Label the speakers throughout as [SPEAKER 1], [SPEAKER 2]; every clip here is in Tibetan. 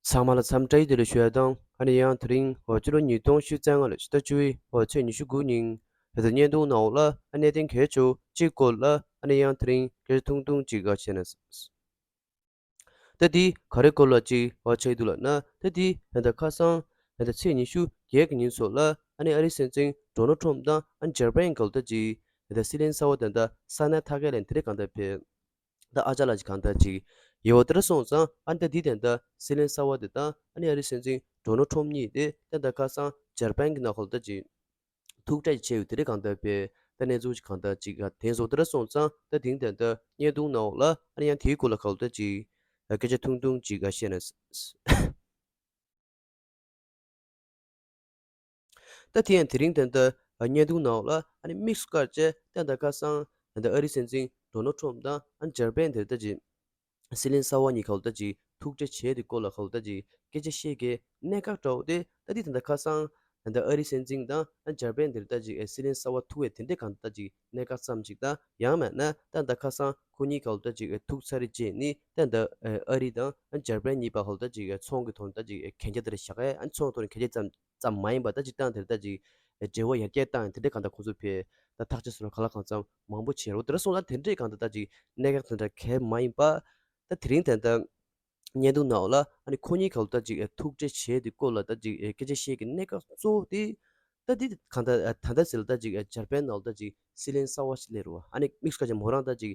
[SPEAKER 1] ཚང་མ་ལ་འཚམས་འདྲ་ཡི་དུས་ལ་ཞུ་ཡ་དང་ཨ་ནི་ཡང་དེ་རིང་ཧོ་ཅི་ལོ་ཉིས་སྟོང་བཞི་ཚན་ལྔ་ལོ་ཕྱི་ཟླ་བཅུ་བའི་ཧོ་ཚེས་ཉི་ཤུ་དགུ་ཉིན་བོད་དུ་བརྙན་ཐུང་ནང་འོག་ལ་ཨ་གནས་གཏན་འཁེལ་བྱོས་གཅིག་བཀོད་ལ་ཨ་ནི་ཡང་དེ་རིང་སྐད་ཆ་ཐུང་ཐུང་གཅིག་ག་བྱས་ན་ཟླ་འདི་ག་རེ་བཀོད་ལ་གཅིག་བ་ཆགས་ཡི་འདུག་ལ་ན་ཟླ་འདི་ད་ལྟ་ཁ་སང་ད་ལྟ་ཚེས་ཉི་ཤུ་བརྒྱད་ཀྱི་ཉིན་སོགས་ལ་ཨ་ནི་ཨ་རི་སན་ཙིང་འགྲོ་ནོ་ཁྲོམ་དང་ཨ་ནི་ཇར་པན་གལ་ཏོ་གཅིག་ད་ལྟ་སི་ལན་ས་བ་ད་ལྟ་ས་ན་ཐ་གས་ལན་དེ་རེ་གང་ད་ཕེབས། ད་ཨ་ཅག་ལ་ཅིག་གང་ལྟར་ཅིག། ཡེ་བོ་ཏེར་སོང་ཙང་ཨ་ནི་ད་འདི་དན་ད་སི་ལན་ས་བ་དེ་ད་ཨ་ནི་ཨ་རི་སེ་འཛིང་གྲོ་ནོ་ཁྲོམ་གཉིས་དེ་ད་ད་ཁ་སང་ཇར་པན་གི་ན་ཁོ་ལ་ད་ཅིག། ཐུག་ཏྲ་ཅིག་ཆེ་ཡོད་དེ་རེད་གང་ལྟར་བས་ད་གནས་ཚུལ་ཅིག་གང་ལྟར་ཅིག་ཨ་དེང་སོ་ཏེར་སོང་ཙང་ད་དེང་དན་ད་བརྙན་ཐུང་ན་འོག་ལ་ཨ་ནི་ཡང་དེའི་སྐོར་ལ་ཁ་ལོ་ད་ཅིག། སྐད་ཆ་ཐུང་ཐུང་ཅིག་ཨ་བཤད་ན། ད་དེ་ཡང་དེ་རིང་དེ་ལྟར་བརྙན་ཐུང་ནང་ལ་དམིགས་སུ་བཀར་བཅས་བསྟན་དང་ཁ་སང་ཨ་རིའི་སྲིད་འཛིན་འདོ་ནལ་ཁྲོམ་དང་འཇར་པན་དེ་ལྟ་ཅིག་སི་ལིན་སཱ་བྷ་གཉིས་ག་ལྟ་ཅིག་ཐུག་འཕྲད་བྱས་དེ་སྐོར་ལ་ག་ལྟ་ཅིག་སྐད་ཆ་བཤད་གི་གནད་འགག་འདྲ་བོ་དེ་ད་དེ་དང་ཁ་སང་ཨ་རིའི་སྲིད་འཛིན་དང་འཇར་པན་དེ་ལྟ་ཅིག་སི་ལིན་སཱ་བྷ་ཐུག་བས་དེ་འདྲས་ག་ལྟ་ཅིག་གནད་འགག་ཙམ་ཅིག་དང་ཡང་མེད་ན་ད་ལྟ་ཁ་སང་ཁོ་གཉིས་ག་ལྟ་ཅིག་ཐུག་ཚར་རེད་ཅེས་ནི་ད་ལྟ་ཨ་རི་དང་འཇར་པན་གཉིས་བར་ག་ལྟ་ཅིག་ཚོང་གི་དོན་ལྟ་ཅིག་གན་རྒྱ་དེར་བཞག་གས་ཚོང་གི་དོན་གན་རྒྱ་ཙམ་ཙམ་མ་ཡིན་པར་ལྟ་ཅིག་སྟངས་དེར་ལྟ་ཅིག། འབྲས་བུ་ཡར་རྒྱས་བཏང་ཡང་དེ་འདྲས་གང་དང་གང་ཚོད་ཕེབས། ད་ཐག་ཆེ་ས་ལ་ག་ལ་གང་ཙམ་མང་པོ་བྱས་རུང་དེ་འདྲ་སོང་ལ་དེ་འདྲས་གང་དང་ལྟ་ཅིག་གནད་འགག་དེ་འདྲ་གལ་མ་ཡིན་པ། ད་དེ་རིང་དེ་ལྟར་བརྙན་ཐུང་ནའོ་ལ་ཨ་ནི་ཁོ་གཉིས་ག་ལོ་ལྟ་ཅིག་ཐུགས་རྗེ་ཆེ་དེ་སྐོར་ལ་ལྟ་ཅིག་སྐད་ཆ་བཤད་ཀྱི་གནད་འགག་གཙོ་བོ་དེ། ད་འདི་གང་དང་ད་ལྟ་ཟེར་ལ་ལྟ་ཅིག་འཇར་པན་ནའོ་ལྟ་ཅིག་སི་ལན་གསར་བ་ཞིག་སླེབས་རུང་ཨ་ནི་དམིགས་སུ་ཁ་ཅིག་མོ་རང་ལྟ་ཅིག་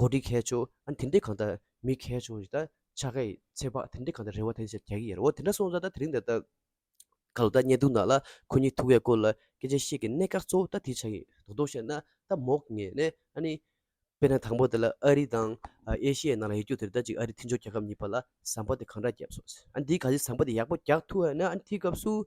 [SPEAKER 1] གོ་སྒྲིག་མཁས་ཆུ་ཨ་དེ་འདྲས་གང་ད་མི་མཁས་ཆུ་ཨ་ཆ་ཁའི་ཚེ་དཔག་དེ་འདྲས་གང་ད་རེ་བ་དེ་འདྲས་བྱས་ཀྱི་ཡོད་རེད་འོ་དེ་འདྲ་སོང་ཙང་ད་དེ་རིང་འདི་ད་ག་ལོ་ད་བརྙན་ཐུང་ནང་ལ་ཁོ་གཉིས་ཐུག་ཡས་སྐོར་ལ་སྐད་ཆ་བཤད་ཀྱི་གནད་འགག་གཙོ་བོ་ད་དེ་ཆགས་ཀྱི་དོག་དོག་བཤད་ན་ད་མོག་ངེས་ནས་ཨ་ནི། དཔེར་ན་དང་པོ་དེ་ལ་ཨ་རི་དང་ཨེ་ཤི་ཡའི་ནང་ལ་ཡོད་རྒྱུ་དེ་རེད་ད་ཅིག་ཨ་རི་མཐུན་སྦྱོར་རྒྱལ་ཁབ་གཉིས་པ་ལ་ཟམ་པ་དེ་གང་འདྲ་བརྒྱབ་སོང་ཟེར་ཨ་འདིས་ག་རེ་ཟམ་པ་དེ་ཡག་པོ་རྒྱག་ཐུབ་ཨ་ནི་ཨ་དེའི་སྐབས་སུ།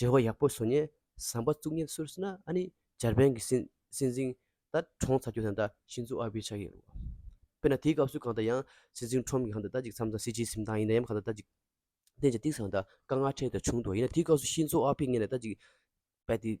[SPEAKER 1] འབྲེལ་བ་ཡག་པོ་བཟོ་ནས་ཟམ་པ་བཙུགས་ཉེན་སུར་སི་ན་ཨ་ནི་འཇར་པན་གྱི་སྲིད་འཛིན་ད་ཁྲོང་ཚ་རྒྱུ་དང་ད་ཤིན་ཛོ་ཨ་བྷི་ཆགས་ཀྱི་རེད། དཔེར་ན་དེའི་སྐབས་སུ་གང་ལྟར་ཡང་སྲིད་འཛིན་ཁྲོམ་གྱི་གང་ལྟར་ད་ཅིག་མཚམས་དང་སྲིད་སྤྱིའི་གཟིམ་ཐང་ཡིན་ན་ཡང་གང་ལྟར་ད་ཅིག་བསྟན་ཅིང་གཏིང་ཟང་ད་དཀའ་ངལ་འཕྲད་ཀྱི་ད་བྱུང་འདུག་ཡིན་ན་དེའི་སྐབས་སུ་ཤིན་ཛོ་ཨ་བྷི་ངེད་ལ་ད་ཅིག་རྦད་དེ།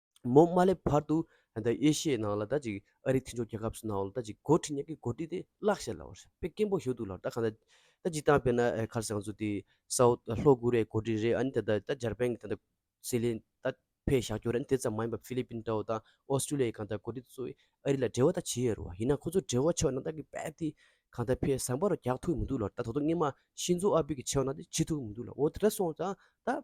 [SPEAKER 1] མོ་དམའ་ལས་བར་དུ་ཡེ་ཤེས་ནང་ལ་ད་ཅིག་ཨ་རིའི་འཐེན་ཕྱོགས་རྒྱལ་ཁབ་སུ་ནའོ་ལ་ད་ཅིག་གོ་ཁྲི་ཉག་གི་གོ་ཁྲི་དེ་བརླག་བྱས་ལ་བར་པའི་སྐད་འབོག་བཞུགས་འདུག་ལ་ད་གང་ད་ད་ཅིག་བཏང་བས་ན་ཨེ་ཁར་སང་ཚུ་དེ་སའོ་ལྷོ་ཀུ་རེའི་གོ་ཁྲི་རེད་ཨ་ནི་ད་ད་ད་འཇར་པན་གྱི་ད་ད་སི་ལེ་ད་ཕའི་བཞག་ཁྱོ་རེད་ཨ་ནི་དེ་ཙམ་མ་ཡིན་པར་ཕི་ལི་པིན་ཏའོ་དང་ཨོ་སི་ཀྲུ་ལི་ཡའི་གང་ད་གོ་ཁྲི་ཚོ་ཨེ་རི་ལ་འབྲེལ་བ་ད་བྱེད་ཡས་རུ་བ་ཡིན་ན་ཁོ་ཚོ་འབྲེལ་བ་ཆོག་ན་ད་གི་བལ་དེ་གང་ད་ཕའི་ཟངས་པ་རུ་རྒྱག་ཐུབ་མི་འདུག་ལ་ད་ད་དོ་སྔས་མ་ཤིན་ཛོ་ཨ་བི་གི་ཆེའོ་ན་དེ་བྱེད་ཐུབ་མི་འདུག་ལ་འོ་དེ་འདྲ་སོང་ཙང་ད།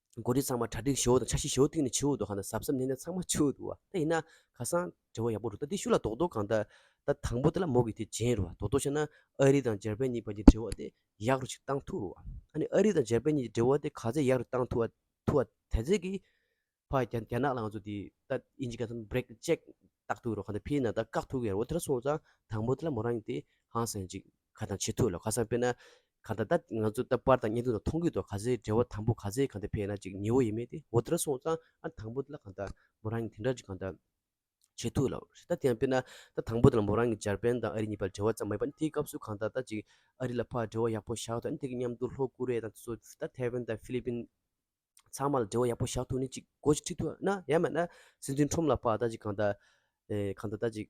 [SPEAKER 1] མགོ་ཁྲིད་ཚང་མ་གྲ་སྒྲིག་ཞོར་དུ་འཆར་གཞི་ཞོར་སྟེང་ནས་ཆུ་བོ་དུ་ཧ་ན་གཟབ་གཟབ་བསྣན་ནས་ཚང་མ་ཆུ་བོ་དུ་བ་ད་ཡིན་ན་ཁ་སང་དྲི་བ་ཡག་པོ་རུ་ད་དེ་ཤུ་ལ་དོག་དོག་གང་ད་ད་དང་པོ་དེ་ལ་མོ་གི་དེ་བྱན་རུ་བ་དོག་དོག་བྱས་ན་ཨ་རི་དང་འཇར་པན་གཉིས་བར་གྱི་འབྲེལ་བ་དེ་ཡག་རུ་ཅིག་བཏང་ཐུག་རུ་བ་ཨ་ནི་ཨ་རི་དང་འཇར་པན་གཉིས་ཀྱི་འབྲེལ་བ་དེ་ག་ཚད་ཡག་རུ་བཏང་ཐུག་ཐུག་བ་དེ་ཚད་ཀྱི་བར་རྒྱ་རྒྱ་ནག་ལ་ང་ཚོ་དེ་ད་ཨིན་ཇི་ག་ཚོ་བརེག་ཅེག་བཏགས་ཐུག་རུ་ག་ད་ཕིར་ན་ད་བཀག་ཐུག་གི་རེད་འོ་དེ་ལ་སོང་ཙང་དང་པོ་དེ་ལ་མོ་རང་གི་དེ་ཧང་སངས་ཅིག་ག་ད་བྱེད་ཐུག་ལ་ཁ་སང་དཔེར་ན་གང་ད་ལྟ་ང་ཚོ་ད་པར་དང་གཉེན་སྟོན་དང་མཐོང་གི་འདུག་ག་ཚད་འབྲེལ་བ་དང་པོ་ག་ཚད་གང་ཐད་ཕེ་ན་ཅིག་ཉེ་བོ་ཡེ་མེད་དེ་འོ་དེ་འདྲ་སོང་ཙང་ཨ་དང་པོ་དེ་ལ་གང་ད་མོ་རང་གི་དེ་འདྲ་ཅིག་གང་ད་བྱེད་ཐུག་ལབ་རེད་ད་དེ་ཡང་དཔེར་ན་ད་དང་པོ་དེ་ལ་མོ་རང་གི་འཇར་པན་དང་ཨ་རི་གཉིས་པ་འབྲེལ་བ་ཙམ་མ་ཡིན་པ་དེའི་སྐབས་སུ་གང་ད་ད་ཅིག་ཨ་རི་ལ་ཕར་འབྲེལ་བ་ཡག་པོ་བཞག་ཐུག་ཨ་ནི་དེ་གི་མཉམ་དུ་ལྷོ་ཀོ་རེ་ཡ་དང་སོ་ད་ཐའེ་ཝན་དང་ཧྥི་ལི་པིན་ཚང་མ་ལ་འབྲེལ་བ་ཡག་པོ་བཞག་ཐུག་ནི་ཅིག་གོ་ཅིག་ཁྲིད་ཐུག་ཨ་ན་ཡ་མེད་ན་སྲིད་འཛིན་ཁྲོམ་ལ་ཕར་ད་ཅིག་གང་ད་ཨེ་གང་ད་ད་ཅིག།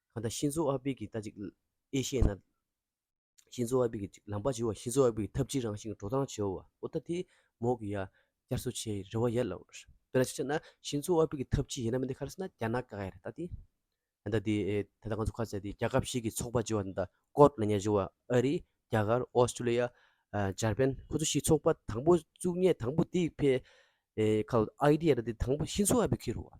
[SPEAKER 1] གང་ལྟར་ཤིན་ཛོ་ཨ་པེ་གྱིས་ལྟ་ཅི། ཨེ་ཤེ་ཡའི་ནང། ཤིན་ཛོ་ཨ་པེ་གྱིས་ལམ་བར་བྱེད་པ། ཤིན་ཛོ་ཨ་པེ་གྱིས་ཐབས་ཇི་རང་བཞིན་གྱི་འགྲོ་སྟངས་བྱེད་པ། ཨོ་ད་དེ། མོག་གི་ཡ། བསྐྱར་གསོ་བྱེད་ཡི་རེད་བ་ཡ། ལབ། དཔེར་ན་ཅིག་བྱས་ན། ཤིན་ཛོ་ཨ་པེ་གྱིས་ཐབས་ཇི་ཡིན་ན་མི་འདི་ཁ་ར་སི་ན་རྒྱ་ནག་ག་ཡ་རེད་ད་དེ། ད་ལྟ་དེ། ད་ལྟ་ང་ཚོ་ཁ་ཚ་དེ་རྒྱ་ཁབ་ཞིག་གི་ཚོགས་པ་ཅེས་བ་འདི་ད་ཀོར་ལ་ཉེར་བཞུགས་བ་ཨ་རི། རྒྱ་གར། ཨོ་སི་ཀྲུ་ལི་ཡ། འཇར་པན་ཁོ་ཚོ་ཞིག་ཚོགས་པ་དང་པོ་བཙུགས་ངེས་དང་པོ་དེ་ཕེ། ཨ་ཨི་ཏི་ཡ་ར་དེ་དང་པོ་ཤིན་ཛོ་ཨ་པེ་ཁེ་རུ་བ།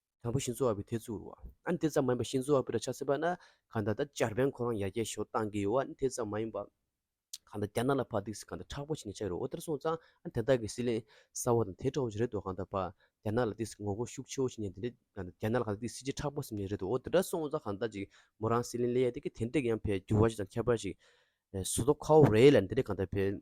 [SPEAKER 1] དང་པོ་ཤིང་བཟོ་བ་པོའི་ཐེ་ཚུགས་རུ་བ་ཨ་ནི་ཐེ་ཚོམ་མ་ཡིན་པ་ཤིང་བཟོ་བ་པོའི་ར་ཆ་སེ་བ་ན་གང་དག་དག་ཅར་བན་ཁོ་རང་ཡར་རྒྱས་ཤོག་གཏང་གི་ཡོ་ཨ་ནི་ཐེ་ཚོམ་མ་ཡིན་པ་གང་དག་རྒྱ་ནག་ལ་ཕ་སྡིགས་སི་གང་དག་ཁྲག་པོ་བྱེད་ནས་ཆགས་ཡོ་ཨོ་དེར་སོང་ཙང་ཨ་ནི་དེ་དག་གི་སི་ལེན་ས་བ་དང་དེ་ཁྲོ་བོ་བྱེད་རེད་དོ་གང་དག་ཕ་རྒྱ་ནག་ལ་སྡིགས་སི་ངོ་བོ་ཤུགས་ཆེ་བོ་བྱེད་ནས་དེ་འདྲས་གང་དག་རྒྱ་ནག་ལ་གང་དག་སྡིགས་སི་ཅི་ཁྲག་པོ་སིམ་ནས་རེད་དོ་ཨོ་དེ་འདྲ་སོང་ཙང་གང་དག་ཅིག་མོ་རང་སི་ལེན་ལེ་ཡ་དེ་གི་དེ་འདྲས་ཡང་ཕའི་འགྱུར་བ་ཅིག་དང་ཁྱད་པར་ཅིག་སོ་དོ་ཁའོ་རེད་ལ་དེ་འདྲས་གང་དག་ཕའི།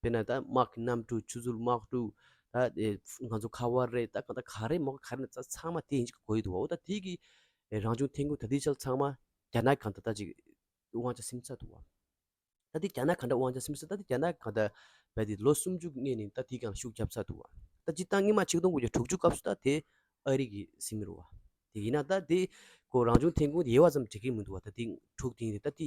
[SPEAKER 1] དཔེར་ན་ད་དམག་གི་གནམ་གྲུ་ཆུ་ཟོལ་དམག་གྲུ། ད་ང་ཚོ་ཁ་བ་རེད་ད་གང་ད་ག་རེད་མོག་ག་རེད་ད་ཚང་མ་དེ་གཉིས་ཀྱི་གོ་ཡི་འདུག་བ་འོ་ད་དེ་གི་རང་བྱུང་ཐན་ཀོ་ད་དེ་ཅག་ཚང་མ་རྒྱ་ནག་གང་ད་ལྟ་ཅིག་དབང་ཆ་སིམ་ས་འདུག་བ། ད་དེ་རྒྱ་ནག་གང་འདྲ་དབང་ཆ་སིམ་ས་ད་དེ་རྒྱ་ནག་གང་ད་བལ་ཏེ་ལོ་སུམ་ཅུ་གནས་ནས་ད་དེ་གང་ཤུགས་རྒྱབ་ས་འདུག་བ། ད་ཅིག་སྟངས་ཉི་མ་ཆིག་སྟོང་དགུ་བརྒྱ་དྲུག་ཅུ་སྐབས་སུ་ད་དེ་ཨ་རི་གི་སིམ་མི་རུང་བ། དེ་ཡིན་ན་ད་དེ་གོ་རང་བྱུང་ཐན་ཀོ་ཡེ་བ་ཙམ་འགྲིག་གི་མི་འདུག་བ་ད་དེ་འཁྲུག་དེ་ཡིན་ད་དེ